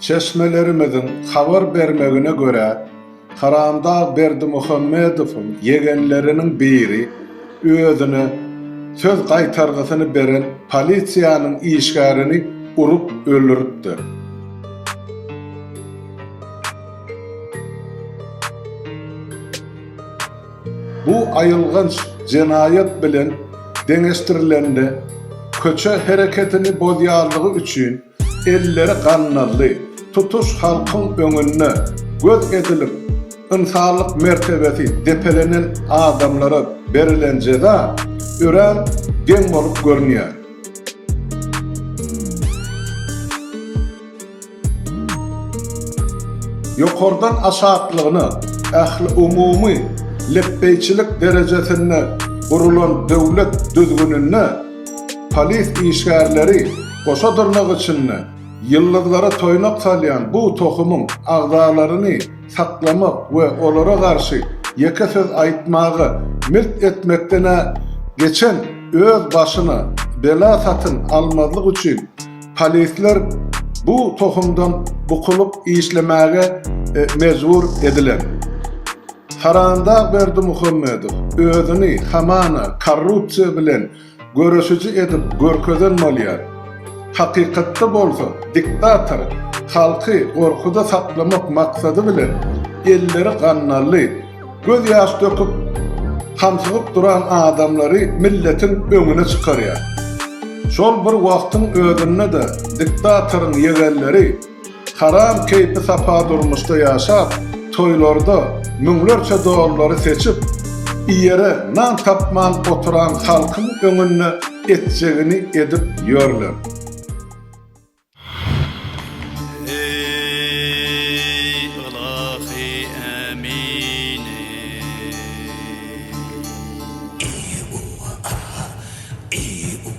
Çeşmelerimiziň habar bermegine görä, Haramdag Berdimuhamedowyň ýegenleriniň biri özüne söz gaýtargysyny beren polisiýanyň işgärini urup öldüripdir. Bu aýylganç jenaýat bilen deňeşdirilende, köçe hereketini bozýanlygy üçin, elleri gandally tutuş halkyň öňünde göz edilip, ynsanlyk mertebesi depelenen adamlara berilen jeza örän geň bolup görünýär. Ýokardan aşaklygyna ähliumumy lepbeýçilik derejesinde gurulan döwlet düzgüninde, Polis işgärleri goşa dyrnak içinde ýyldyzlara toýnak salýan bu tohumyň agzalaryny saklamak we olara garşy ýeke söz aýtmaga milt etmekden-ä geçen öz başyna bela satyn almazlyk üçin polisler bu tohumdan bukulyp işlemäge mejbur edilen. Haramdag Berdimuhamedow özüni hamana korrupsiýa bilen göreşiji edip görkezen bolýar. Hakykatda bolsa diktator halky gorkuda saklamak maksady bilen elleri gannally, göz ýaş döküp hamsygyp duran adamlary milletiň öňüne çykarýar. Şol bir wagtyň özünde-de diktatoryň ýegenleri, Haram keýpi-sapa durmuşda ýaşap, toýlarda müňlerçe dollary seçip, iýere nan tapman oturan halkyň öňünde etjegini edip ýörler.